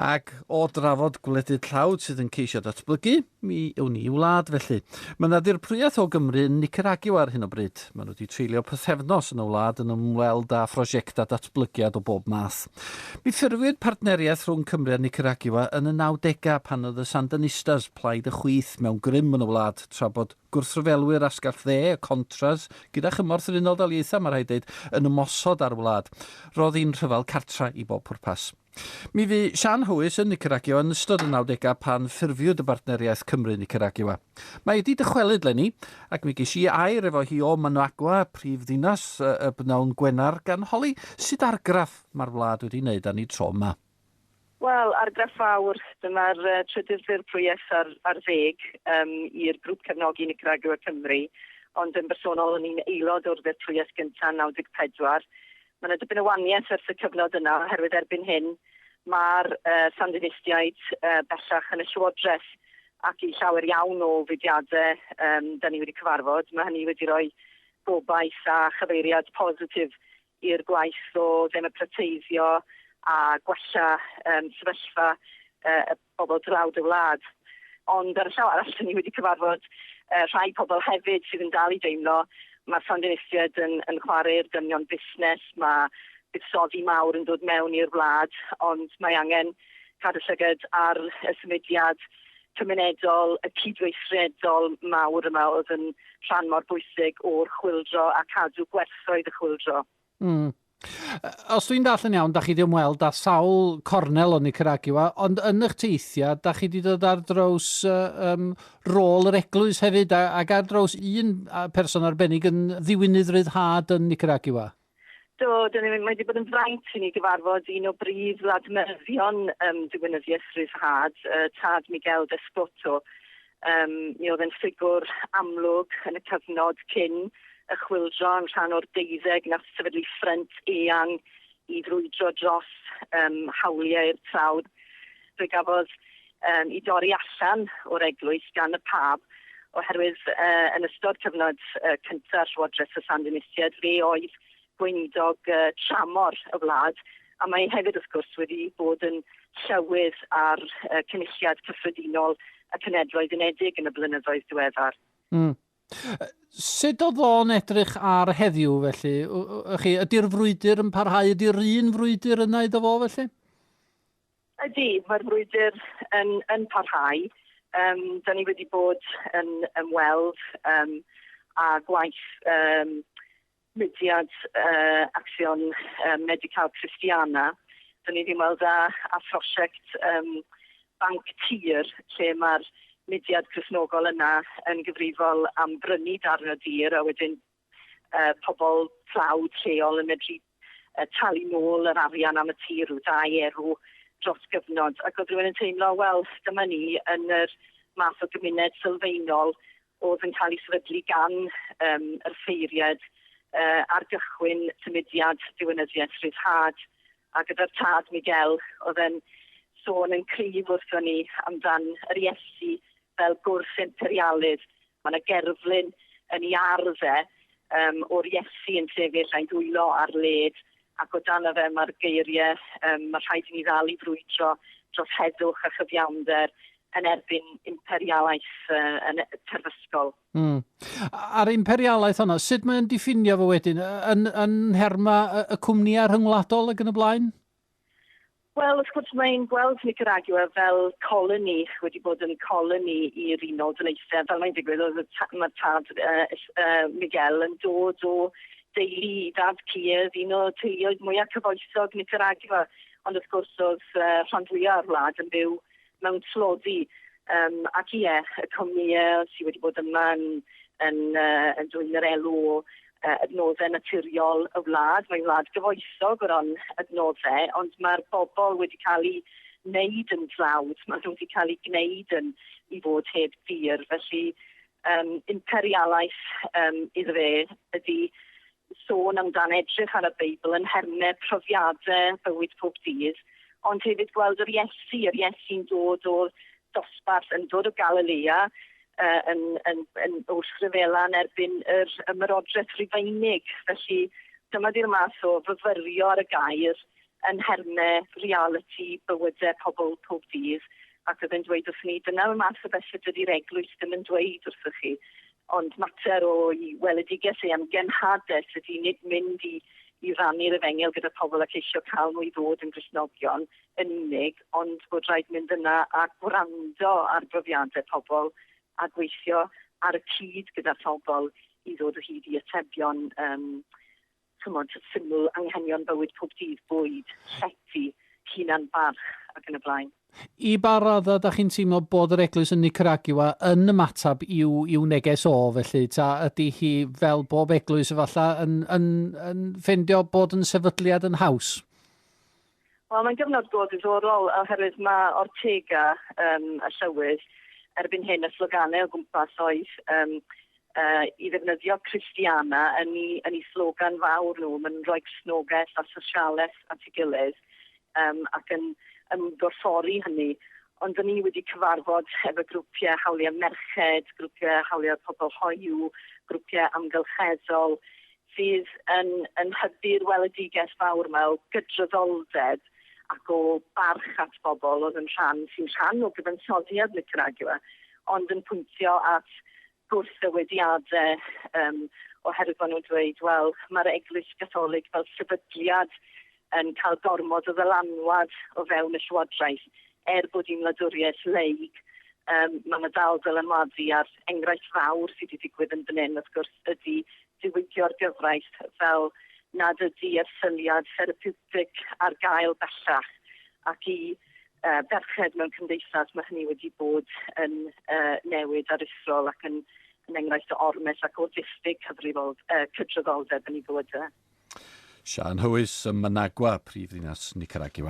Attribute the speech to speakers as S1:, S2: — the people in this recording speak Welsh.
S1: Ac o drafod gwledydd tlawd sydd yn ceisio datblygu, mi yw ni wlad felly. Mae yna ddirprwyaeth o Gymru yn Nicaragua ar hyn o bryd. Maen nhw wedi treulio pythefnos yn y wlad yn ymweld â phrosiectau datblygiad o bob math. Mi ffurfiwyd partneriaeth rhwng Cymru a Nicaragua yn y 90au pan oedd y Sandanistas, plaid y chwith, mewn grym yn y wlad, tra bod gwrthryfelwyr asgell dde, y Contras, gyda chymorth yr Unol Daleithiau, mae rhaid dweud, yn ymosod ar y wlad. Roedd hi'n rhyfel cartref i bob pwrpas. Mi fu Siân Howys yn Nicaragua yn ystod y nawdegau pan ffurfiwyd y Bartneriaeth Cymru-Nicaragua. Mae wedi dychwelyd 'leni, ac mi ges i air efo hi o Managua, prif ddinas y b'nawn Gwener, gan holi sut argraff mae'r wlad wedi wneud â ni tro 'ma. Wel,
S2: argraff fawr, dyma'r trydydd ffurf prwyes ar ar ddeg um, i'r grŵp cefnogi Nicaragua Cymru, ond yn bersonol o'n i'n aelod o'r ddurf prwyes gyntaf yn 94. Mae yna dipyn o waniaeth ers y cyfnod yna, oherwydd erbyn hyn mae'r uh, Sandinistiaid uh, bellach yn y llywodraeth ac i llawer iawn o fudiadau um, da ni wedi cyfarfod, mae hynny wedi rhoi gobaith a chyfeiriad positif i'r gwaith o ddemocrateiddio a gwella um, sefyllfa uh, y bobl dlawd y wlad. Ond ar y llaw arall, ni wedi cyfarfod uh, rhai pobl hefyd sydd yn dal i deimlo mae'r Sandinistiaid yn, yn chwarae'r dynion busnes, mae buddsoddi mawr yn dod mewn i'r wlad, ond mae angen cadw llygad ar y symudiad cymunedol, y cydweithredol mawr yma oedd yn rhan mor bwysig o'r chwildro a cadw gwerthoedd y chwildro. Mm.
S1: Os dwi'n dall yn iawn, da chi wedi ymweld â sawl cornel o Nicaragua, ond yn eich teithiau, da chi wedi dod ar draws um, rôl yr eglwys hefyd, ac ar draws un person arbennig yn ddiwinydd ryddhad yn Nicaragua. Do, dyn ni,
S2: mae wedi bod yn fraint i ni gyfarfod un o brif ladmyddion um, diwinyddiaeth ryddhad, uh, tad Miguel Descoto. Um, mi oedd yn ffigwr amlwg yn y cyfnod cyn y chwildro yn rhan o'r deuddeg na sefydlu ffrent eang i frwydro dros um, hawliau'r trawd. Fe gafodd um, i dorri allan o'r eglwys gan y pab, oherwydd uh, yn ystod cyfnod uh, cyntaf Llywodraeth y Sandinisiad, fe oedd gweinidog uh, tramor y wlad, a mae hefyd wrth gwrs wedi bod yn llywydd ar uh, cynulliad cyffredinol y Cenedloedd Unedig yn y blynyddoedd diweddar. Mm.
S1: Sut oedd o'n edrych ar heddiw felly? Ydy'r frwydr yn parhau? Ydy'r un frwydr yna iddo fo felly?
S2: Ydy, mae'r frwydr yn yn parhau. Yym, 'dan ni wedi bod yn ymweld yym â gwaith yym mudiad yy Acsiwn yy Medi-cal Christiana. 'Dan ni wedi ymweld â â phrosiect yym banc tir lle mae'r mudiad Cristnogol yna yn gyfrifol am brynu darn o dir a wedyn pobl tlawd lleol yn medru talu nôl yr arian am y tir, rhyw dai erw dros gyfnod, ac oedd rhywun yn teimlo, wel, dyma ni yn yr math o gymuned sylfaenol oedd yn cael ei sefydlu gan um, yr ffeiriad uh, ar gychwyn symudiad diwynyddiaeth rhyddhad, a gyda'r tad Miguel oedd yn sôn yn cryf wrthon ni amdan yr Iesu fel gwrth imperialydd Mae yna gerflun yn ei ardd e yym o'r Iesu yn sefyll a'i ddwylo ar led ac o dano fe mae'r geirie yym mae rhaid i ni ddal i frwydro dros heddwch a chyfiawnder yn erbyn imperialaeth uh, yn e-, terfysgol. Mm.
S1: A'r imperialaeth hwnna, sut mae'n diffinio fo wedyn? Yn, yn nherma y cwmnïau rhyngwladol ac yn y blaen?
S2: Wel, wrth gwrs, mae'n gweld Nicaragua fel coloni, wedi bod yn coloni i'r Unol Daleithiau. Fel mae'n digwydd, oedd y ta, mae'r tad uh, uh, Miguel yn dod o deulu i dad Clears, un o teuluoedd mwyaf cyfoethog Nicaragua. Ond wrth gwrs, oedd uh, rhan fwyaf o'r wlad yn byw mewn tlodi yym ac ie y cwmnïe sy wedi bod yma yn yn yy yn dwyn yr elw o yy adnodde naturiol y wlad. Mae'n wlad gyfoethog o ran adnodde ond mae'r bobl wedi cael eu wneud yn dlawd, maen nhw wedi cael eu gwneud yn i fod heb dir felly yym imperialaeth yym iddo fe ydy sôn amdan edrych ar y Beibl yn nhermau profiadau bywyd pob dydd, ond hefyd gweld yr Iesu, yr Iesu'n dod o'r dosbarth, yn dod o Galilea, yn, yn, yn wrthryfela yn erbyn yr ymerodraeth Rufeinig. Felly, dyma di'r math o fyfyrio ar y gair yn nhermau realiti bywydau pobl pob dydd, ac oedd e'n dweud wrthyn ni, dyna'r math o bethau dydy'r Eglwys ddim yn dweud wrthych chi. Ond mater o'i weledigaeth ei am genhadaeth ydy nid mynd i i rannu'r efengyl gyda phobl a ceisio cael nhw i ddod yn Gristnogion yn unig, ond bod rhaid mynd yna a gwrando ar brofiadau pobl a gweithio ar y cyd gyda phobl i ddod o hyd i atebion. Yym. ch'mod, syml, anghenion bywyd pob dydd, bwyd, llety, hunan barch, ac yn y blaen. I ba raddau
S1: dach chi'n teimlo bod yr Eglwys yn Nicaragua yn ymateb i'w, i'w neges o, felly? Ta ydy hi, fel bob Eglwys efallai, yn, yn, yn ffeindio bod yn sefydliad yn haws?
S2: Wel mae'n gyfnod go ddiddorol oherwydd mae Ortega yym y llywydd erbyn hyn y sloganau o gwmpas oedd yym uh, i ddefnyddio Christiana yn ei, yn ei slogan fawr nhw, mae'n rhoi cysnogaeth a sosialaeth at ei gilydd um, ac yn ymgorffori hynny. Ond dyn ni wedi cyfarfod efo grwpiau hawliau merched, grwpiau hawliau pobl hoiw, grwpiau amgylcheddol, sydd yn yn hybu'r weledigaeth fawr 'ma o gydraddoldeb ac o barch at bobl oedd yn rhan, sy'n rhan o gyfansoddiad Nicaragua, ond yn pwyntio at gwrthddywediadau yym oherwydd bod nhw'n dweud, wel, mae'r Eglwys Gatholig fel sefydliad yn cael gormod o ddylanwad o fewn y Llywodraeth, er bod hi'n wladwriaeth laig, yym, mae 'na dal dylanwadu, a'r enghraifft fawr sy' 'di digwydd yn fan hyn, wrth gwrs, ydi diwygio'r gyfraith fel nad ydi erthyliad therapiwtig ar gael bellach, ac i yy ferched mewn cymdeithas mae hynny wedi bod yn yy newid aruthrol ac yn yn enghraifft o ormes ac o ddiffyg cydraddoldeb yn ei
S1: fywydau. Siân Huis
S2: ym Managua, prifddinas
S1: Nicaragua.